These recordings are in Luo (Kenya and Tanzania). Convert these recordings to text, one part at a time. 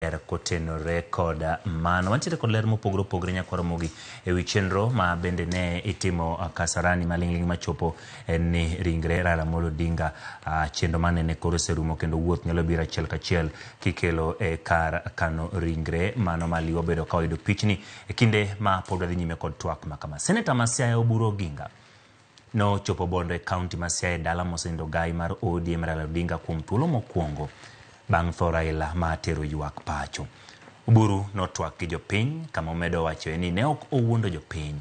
ler kotenore kod mano. Wantiere kod ler mopogore opogore nyakwaro mogi e wi chenro ma bende ne itimo Kasarani maling'ling machopo en ni ringre Raila Amolo Odinga ah, chenro mane ne koro oserumo kendo wuoth nyalo biro achiel kachiel kikelo e kar kano ringre mano ma liwa obedo ka oyudo pichni e kinde ma pod wadhi nyime kod twak ma kama. Seneta ma Siaya Oburu Oginga Nochopo Bondo e kaunti ma Siaya e dala mosenindo ogayi mar ODM Raila Odinga kuom thuolo mokwongo bang' tho Raila ma tero ywak pacho. Oburu notwak gi jopiny kama omedo wachoe ni ne ok owuondo jopiny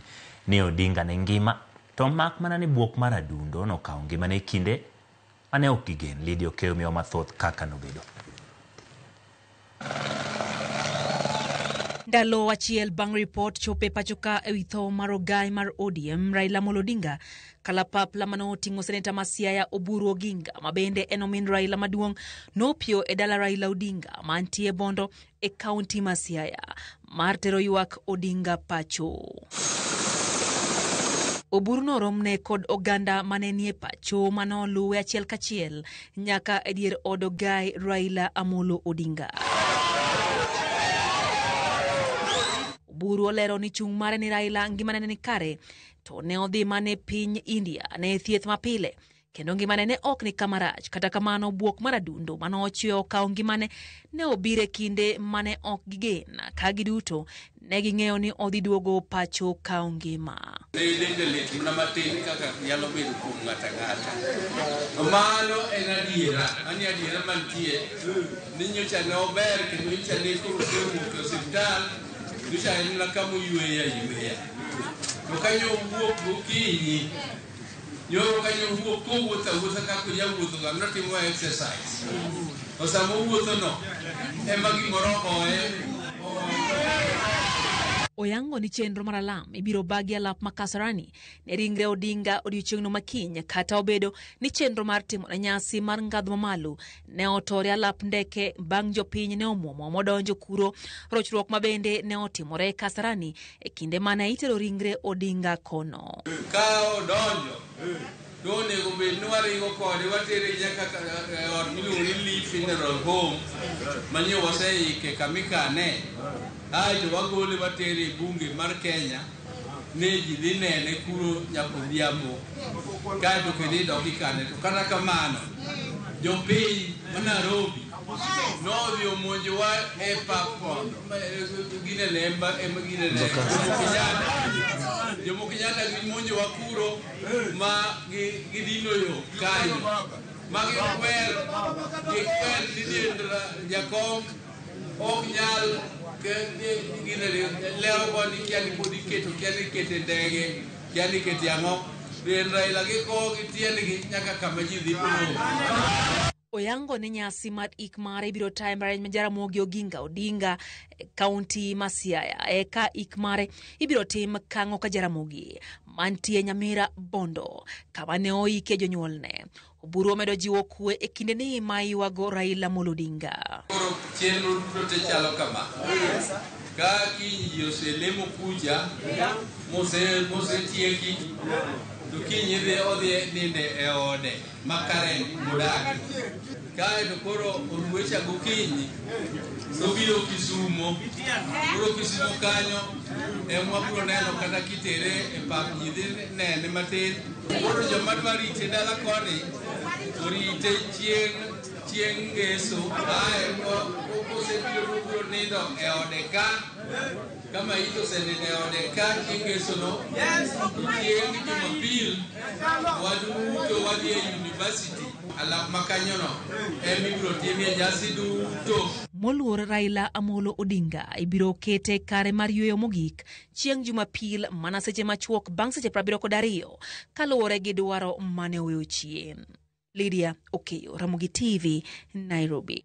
ni Odinga ne ngima to mak mana ni bwok mar adundo nokawo ngimane e kinde Mane ok gigen. Lydia Okeyo miyowa mathoth kaka nobedo. Ndalo achiel bang' ripot chopo e pachoka e wi tho mar ogai mar ODM Raila Amolo Odinga, kalapapla mane oting'o seneta ma Siaya Oburu Oginga ma bende en omin Raila maduong' nopio e dala Raila Odinga mantie Bondo e kaunti ma Siaya mar tero ywak Odinga pacho. Oburu noromne kod oganda mane nie pacho mane oluwe achiel kachiel nyaka e dier od ogai Raila Amolo Odinga. Oburu olero ni chung' mare ni Raila ngimane ne ni kare to ne odhi mane piny India ne thieth mapile kendo ngimane ne ok ni kama rach kata kamano bwok mar adundo mane ochweyo okawo ngimane ne obire kinde mane ok gigen ka giduto ne ging'eyo ni odhi duogo pacho kawo ngima ne dende lit mana matin kaka nyalo bedo kuom ng'ato ang'ata to mano en adiera mano e adiera mantie ni nyocha ne ober kendo nyocha ne koro osewuok e osiptal nyocha en na kama oyweya yweya to ka nyo owuok gokinyi Nyoro ka nyowuok kowuotho awuotha kaka onyawuothoga notimo exercise. To sama owuothono ema gimoro ohoye oyango ni chenro mar alam ibiro baa gi alap ma Kasarani ne ringre Odinga odiechieng'no makiny kata obedo ni chenro mar timo ne nyasi mar ngadho mamalo ne otore alap ndeke bang' jopiny ne omwomo modonjo kuro rochruok ma bende ne otimore Kasarani e kinde mane itero ringre Odinga kono. Ka odonjo to onego bed ni waringo kode watere nyaka e ot miluongo ni Lee Funeral Home manyo waseike kama ikane aeto wagole watere e bunge mar Kenya. ni ji dhi nene kuro nyaka odhiambo kaeto kendo idok ikane to kata kamano jopiny ma Nairobi nodhi omonjowa e pap kono gine lemba ema gine lemba Jomo Kenyatta gimonjowa kuro ma gi- gidino yo kanyo ma gikwer gikwer ni diendra jakom ok nyal gine lero koni kiani pod iketo kiani ikete ndege kiani ikete ang'o en Raila gi ko gi tiendgi nyaka kama ji dhi polo Oyango ni nyasi mar ik mare ibiro tayo mare ma Jaramogi Oginga Odinga e kaunti ma Siaya. Eka ik mare ibiro tim Kang'o ka Jaramogi mantie Nyamira Bondo kama ne oike jonyuolne. Oburu omedo jiwo kwe e kinde ni ma yuago Raila Amolo Odinga. Koro chenro duto te chalo kama. Ka kiny ji oselemo kucha, mose- mosetieki, to kiny idhi odhi ninde e ode ma Karen modagi. Kaeto koro oruecha gokinyi, nobiro Kisumo. Koro Kisumo kanyo, ema wabiro neno kata kitere e pap ji dhi nene matin. Koro joma dwa rite dala koni orite chieng' chieng' ngeso ae osebiro mobiro nindo e ode ka kama it osenindo e ode ka chieng' ngesono chieng' jumapil waduto wadhi e university alap ma kanyono ema ibiro timie nyasi duto Moluor Raila Amolo Odinga ibiro kete kare mar yueyo mogik chieng' Jumapil mana seche machuok bang' seche prabiriyo kod ariyo kaluwore gi dwaro mane oweyo chien. Lydia Okeyo, Ramogi TV, Nairobi.